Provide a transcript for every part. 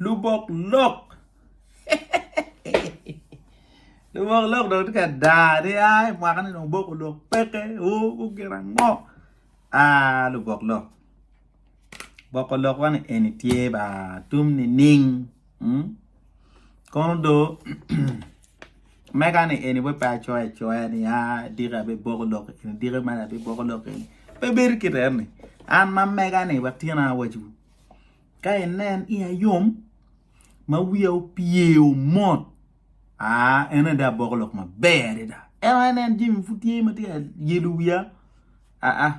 lubok lok lubok lok dong tye ka dar ni ai mwaka ni dong oboko lok peke oo gu gin ango aa lubok lok boko lok wa ni eni tye ba tum nining kono dong mega ni eni weng pe acoyo acoya ni aa diki abi boko lok eni diki mene abi boko lok eni pe bedo kit eno ni an ma mega ni wa tyen awaco wu Ka inen iya yom ma wiya opyeo mot, aa, en adada aboko lok maber adada. Ento ka inen jami pud tye ma tye ka yelo wiya, aa,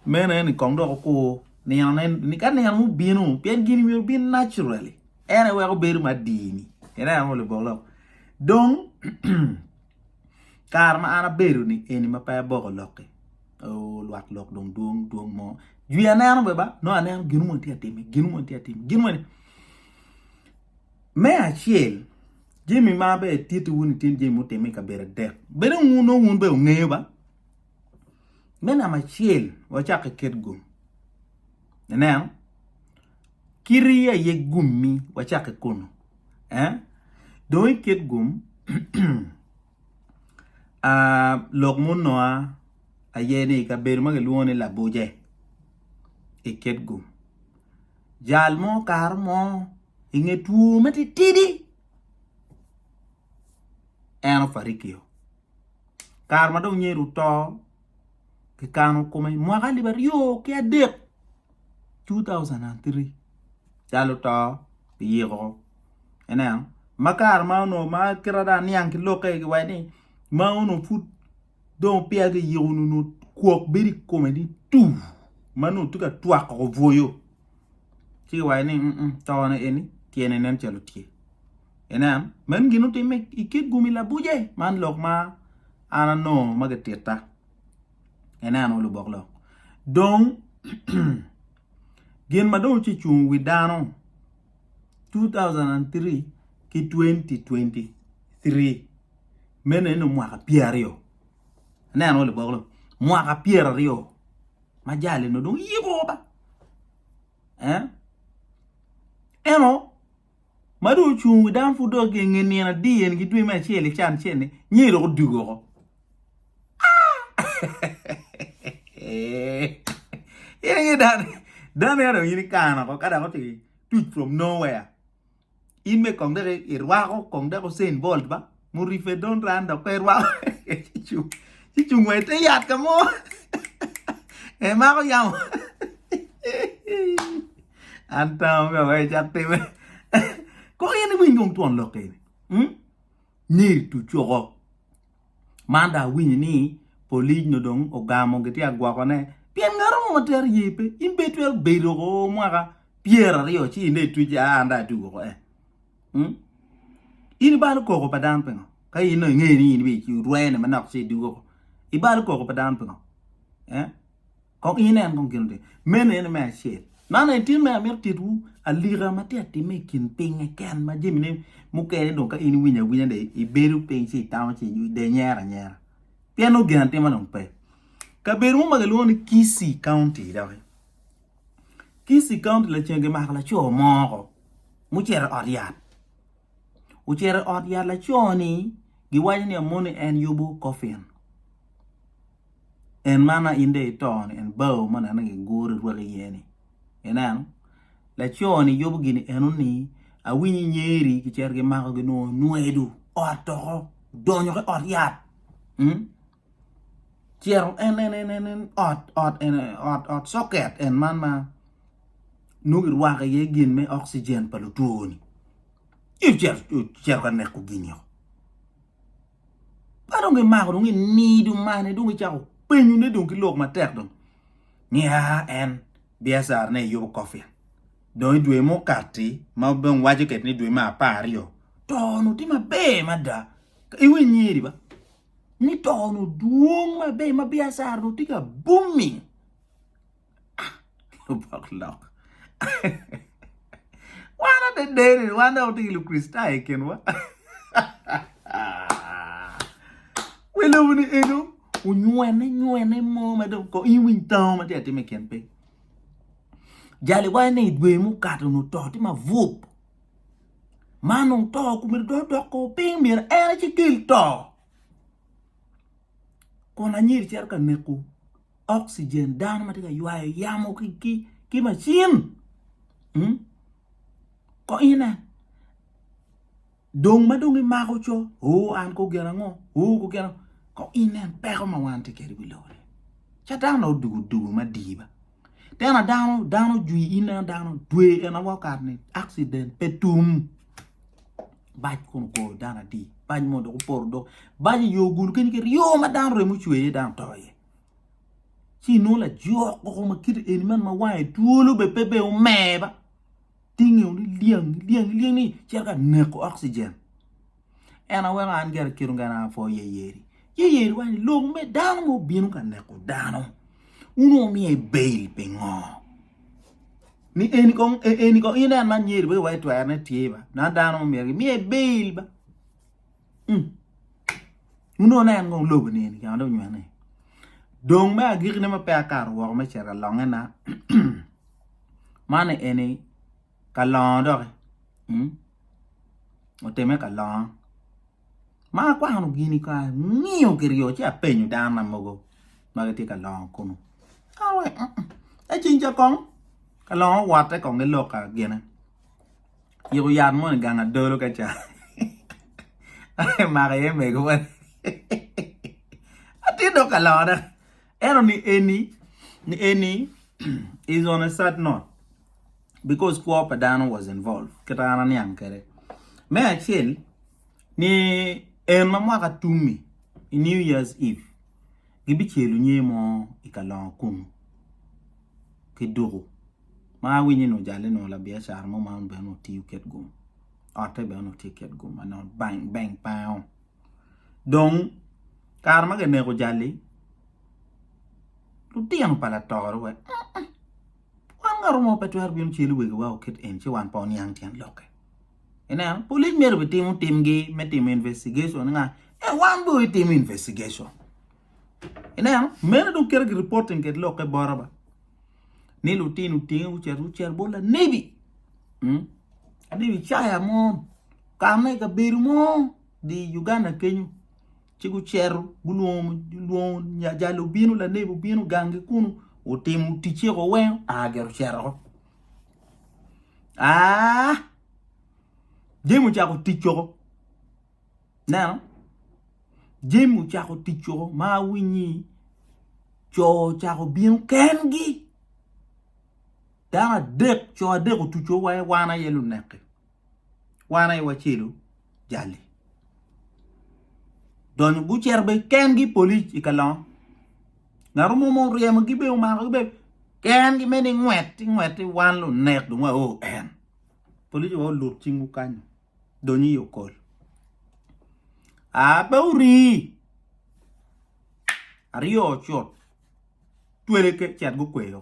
meno aye ni kong dok okur ninone ni ka nino mo obino, pien gini myero obin naturally, en aye weko bedo me adini. Ineno labok lok? Dong. kare ma an abedo ni eni ma pe aboko lok-ki oo lwak lok dong dwong dwong mo jwi aneno bene ba nongo aneno gin moni tye ka timme gin moni tye ka timme gin moni me acel jami ma bene atitti wun itye jami mutimme i kabedo adek bene wun nongo wun bene wungeyo ba Me namba acel wacak ki kit gum, ineno kiti aye gummi wacak ki kunu aa dong i kit gum lok munonga aye ni i kabedo ma kilwongo ni Labuje i kit gum jal mo kare mo inge two matitidi en ofarikio. kare ma dong nyedo oto kikano kome i mwaka alip aryo ki adek 2003 calo oto kiyiko ineno ma kare ma onongo ma kite dong aniang ki lokke giwaco ni ma onongo pud dong peya kiyiko ni onongo kwok bedo i kome ni tuu ma nongo tye ka twako bwoyo ci kiwaco ni tone eni tyene nen calo tye. Inen, men gin otimme i kit gumi labuce, man lok ma an anongo ma gititta. Ineno lubok lok. Dong gin ma dong oce cung wi dano 2003 ki 2023 mene ni mwaka pyera aryo. Ineno lubok lok. Mwaka pyera aryo ma jali no dong yiko ba. Eh? Eno ma dong ocung wi dano pud dong nge nino adi eni ki dwe me acel i can cel ni nyeyi dong odug oko in inge dano dano ya dong in ikano oko ka dok oto tuc from nowhere in me kong dok irwako kong dok usain bolt ba muripe don ran dok pe rwako ci cung wa ite yat ka mo emako yamo an tamo ka wai cak time kong in iwiny kong twon lok eni hmm? ni tucuko man da awinyo ni polic no dong ogamo giti agwokone pien ngaro mo matero ye pe in be twero bedo ko mwaka pyera aryo ci ine tuc an da atugo ko eh Hmm? In ibalo koko pa dano pingo? Ka in no ingeyo ni in biyo rwene manok ci idugo ko. Ibalo koko pa dano pingo? Eh? Kong inen kong gin otim. Meno ene me acel. Man en tye me amito titwu alika ma tye atime i kin pinye ken ma jamine mukene dong ka in iwinyo awinya de ibedo piny ci itamo ci de nyera anyera. Pien nongo gin atimo dong pe. Kabedo mo ma kilwongo ni Kisii County doki. Kisii County lacen gimako laco moko mucito i ot yat ocito i ot yat laco ni giwaco ni amoni en yubo coffin en ma ma in dong ito ni en bao ma nongo giguro irwaki iye ni ineno laco ni yubo gini eno ni awinyo inyeri gicito gimako ginongo nwedo ot doko odonyo ki ot yat. cito en en en en en ot ot ene ot ot soket en man ma nongo kirwako iye gin me oxygen pa lutwo-ni ci ocito ocito ka neko gin-nio ka dong kimako dong inido mane dong icako penyone dong ki lok matek dong ni aa en Biacara-ne i yubu coffin dong i dwe ma okati ma dong waco kiti ni dwe me apar aryo to onongo tye maber mada iwinyo nyeri ba ni to nu dwong ma be ma biacara nu tye ka booming ah lubok lok wan adederi wan dok watye ki lukricitayo i kinwa wi lobo ni eno onywene nywene mo ma dong ko in winy tango ma tye atim i kin piny jali wa ene i dwe mukato nu to tye mabup ma nongo to okumere dong odok ko piny myero en aye ci kel to kun anyir cito ka neko oxygen dano ma tye ka ywayo yamo ki macin hmm? ko ine dong ma dong imako co o an ko gin ango o ko gin ango ko ine peko ma wan tye kwede i wi lobo ca dano odugo dugo madiba Tena dano dano ojwi in a dano dwe en awa kare ni accident pe tum bac kun ogoyo dano adi bac mo dok opoto dok bac iyo gulu kenyo kit yo ma dano remo cwer iye dano to iye ci inongo lajok koko ma kite eni man ma wange twolo bene pe bene omer ba tinge weng liang liang liang ni cito ka neko oxygen. En aye weko an gire kit ongera apwo iye yeri. Ci yeri waco ni, 'Lok me dano ma obino ka neko dano, wun wumiye bail pingo? Ni eni kong e, eni kong inen man yeri pe iwaco twerone tye ba, na dano ma myero gimiye bail ba. Mm. Wun wunen kong lobo ni eni kama dong onywene. Dong me agikine ma pe akato woko me cito alongena, man eni ka longo doki mm oteme ka longo ma akwano gini ka angiyo kiryo ci apenyo dano na mogo ma gitye ka longo kunu ka lure ni mm ka ceng ca kong ka longo owote kong giloka gine ciko yat moni gang adolo ka ca maka iye mego moni atye dong ka longo dok Eno ni eni, ni eni is on a sad note because kwo pa dano was involved kita an aniang kede. Me acel ni en ma mwaka tummi i new years eve gibicelo nyer mo i kalongo kunu ki duku ma awinyo ni ojale nongo labiacara mo ma en bene onongo tiyo kit gum otte bene onongo tye kit gum ma nongo bank pa en-o. Dong, kare ma kineko jalli, lutino pa latoro wa wan ngat mo pe twero bino celu wegiwa oket en ci wan pe waniang tyen lokke. Ineno, pulic myero bitimo timgi me timo investigation ni nga ento wan dong itimo investigation. Ineno, meno dong kite ki reporting kit lokke bota ba ni lutino otinge gucito gucel bot lanebi, lanebi Icaya mo. Ka ma i kabedo mo dye i Uganda kenyo ci gucito gulwongo jal obino lanebi obino gangi kunu otimo ticce woko weng aa gire ocito woko aa jami ocako tic woko ineno jami ocako tic woko ma awinyo ni co ocako bino kengi dano adek co adek otuco wa wan aye lunek-ki. wan aye wacelu jali donyo gucito bene kengi polic i kalongo ngat mo ma oryemogi bene omakogi bene kengi mere ni ngwet ci ngwet ci wan lunek dong wao en polic wa olut cingwu kany dong i okol aa pe ori aryo ocut tweleke cet gukweyo.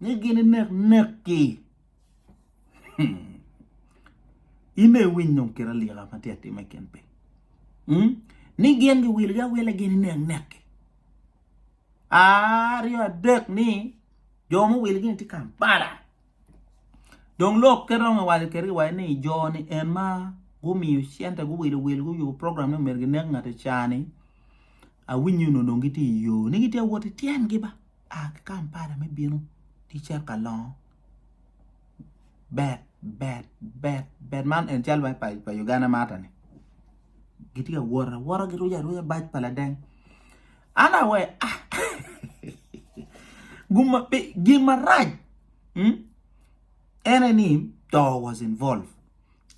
ni gin inek nekgi. Ime iwiny dong kit alika ma tye atime ken piny. Hmm? Ni gin giwilogi awila gin inek nekgi. Aryo adek ni jo muwilogi ni tye Kampala. Dong lok ke dong iwaco keri iwaco ni jo ni en ma gumiyo cente guwilo wil guyubo program ni omedo ginek ngati cani awinyo nonong gitye i yo ni gitye awot i tyengi ba. A ki Kampala me bino ki Ceka Longo. Bet bet bet bet man en cal ma pa Uganda mata ni. Gitye ka wot awota giruco aruca bac pa ladeng. An awe ah guma be gin marac hmm? ene ni to was involved.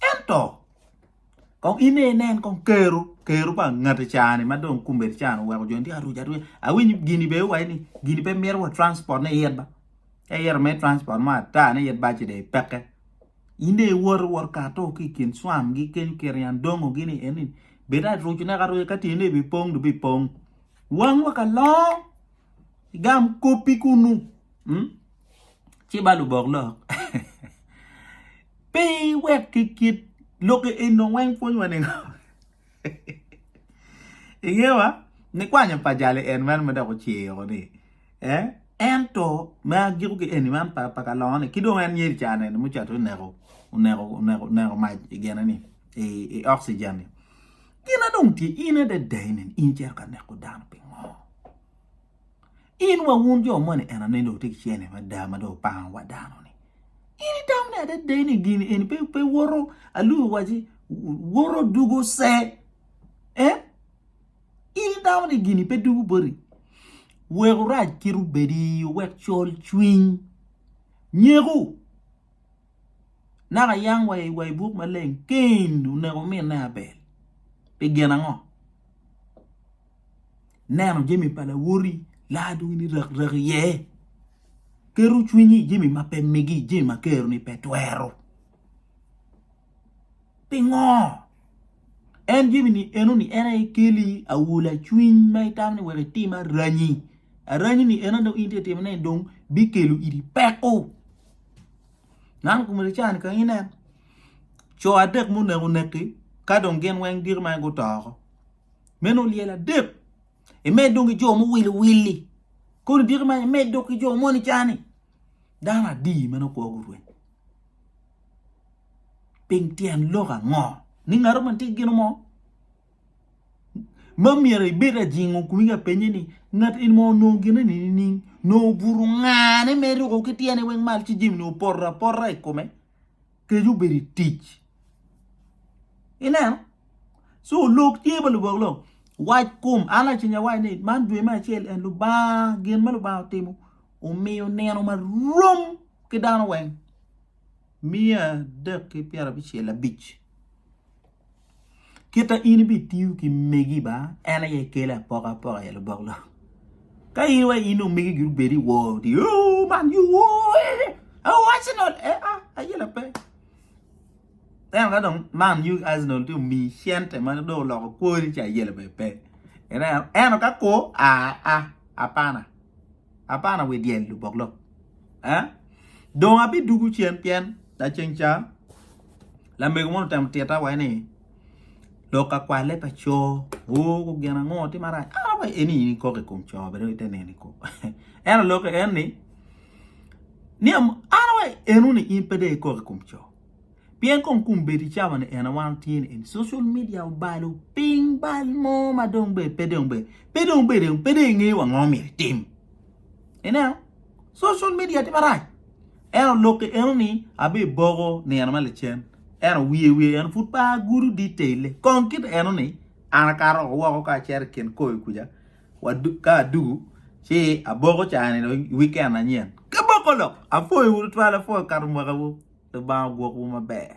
Ento Kong in aye inen kong kero, kero pa ngati cani ma dong kumbedi cani oweko joni tye ka ruc aruca. Awinyo gini bene iwaco ni gini pe mito wa transport ne yet ba. Ka iyero me transport mo ata ne yet baci de peke. In de iwor iwor kato ki kin swam gi kenyo keri an dongo gini eni. Bed a ruc ne kato ka tine ne bi pong du bi pong. Wang wa kalong. Igam kopi kunu. Hmm? Ci ba lubok lok. Pe iwek ki kit lokke enno weng pwonywa ningo? Ingeyo ma? Nikwanyo pa jali en meno ma dok ociko ni, eh, ento me agiko ki eni man pa pa kalongo-ni ki dong en yeli ca nene ma ocato oneko oneko oneko oneko mac i gine-ni i oxygen-ni. Gina dong tye in adada eni in icito ka neko dano pingo? In wa wun jo moni en ane dong wutye ki cene mada ma dong wupango wa dano ni. In itamo ni adada ni gini eni pe pe woto aluu waci woto dugo se. Eh? In itamo ni gini pe dugo boti. Weku rac kit obedi wek col cwiny nyeku. Naka yang wa i wa i buk maleng Cain oneko minne Abel pi gin ango? Neno jami pa lawoti laa dong ini rakrak iye. Keto cwinyi i jami ma pe migi, jami ma Keroni pe twero. Pingo? En jami-ni enoni en aye keli awula cwiny ma itamo ni wek itim aranyi. Aranyini eno dong in tye timone ni dong bikelo iri peko. Nano kumene can ka inen co adek muneko neki ka dong gin weng diki ma guto oko. Meno olyel adek. Imed dong ki jo muwilo willi. Koni diki man imed dok ki jo moni cani. Dano adi meno kwo gurweny. Ping tyen lok ango? Ni ngaro man tye gino mo? Ma myero ibed ajingo kumi ka penye ni ngat in mo nongo gine ni nining? Nongo obuto ngane me ruko ki tyene weng mal ci jimini opoto apota i kome. kec obedo i tic ineno so lok tye ma lubok lok wac kom an laceng awaco ni man dwe me acel en Lubanga gin ma Lubanga otimo omiyo nino ma rom ki dano weng miya adek ki pyerabicel abic. Kita in ibitiyo ki megi ba en aye kele apoka apoka i lubok lok. Ka in wa in omegi gi obedi woo di oh man you woo eh, oh Arsenal eh ah aye la pe. Then ka dong man you Arsenal ti omi cente ma do oloko kwori ci aye la pe pe. Ineno eno ka ko ah ah apana. Abana wi dyel lubok lok. Eh? Dong abidugu cen pien laceng ca lamego moni otemo tita wa ni lok akwale pa co oh gin ango ti marac ah wa eni in ikok i kom co bene i te neni ko en oloke en ni ni an wa eno ni in pe de ikok i kom co Pien kong kum bed i cawa ni en awano tye ni eni social media obalo piny bal mo ma dong be pe dong be pe dong be dong pe dong ingeyo ango myero itim. Ineno? Social media tye marac. En olokke eno ni abe boko nino ma licen. Eno wiye wiye en pud pa gudu detail kong kit eno ni an akato woko ka acero kin koyo kuja wa ka adugu ci aboko caa ni dong weekend anyen. Ka boko lok, apwoyo tutwal, apwoyo kato mwakawu. Lubanga ogwokwu maber.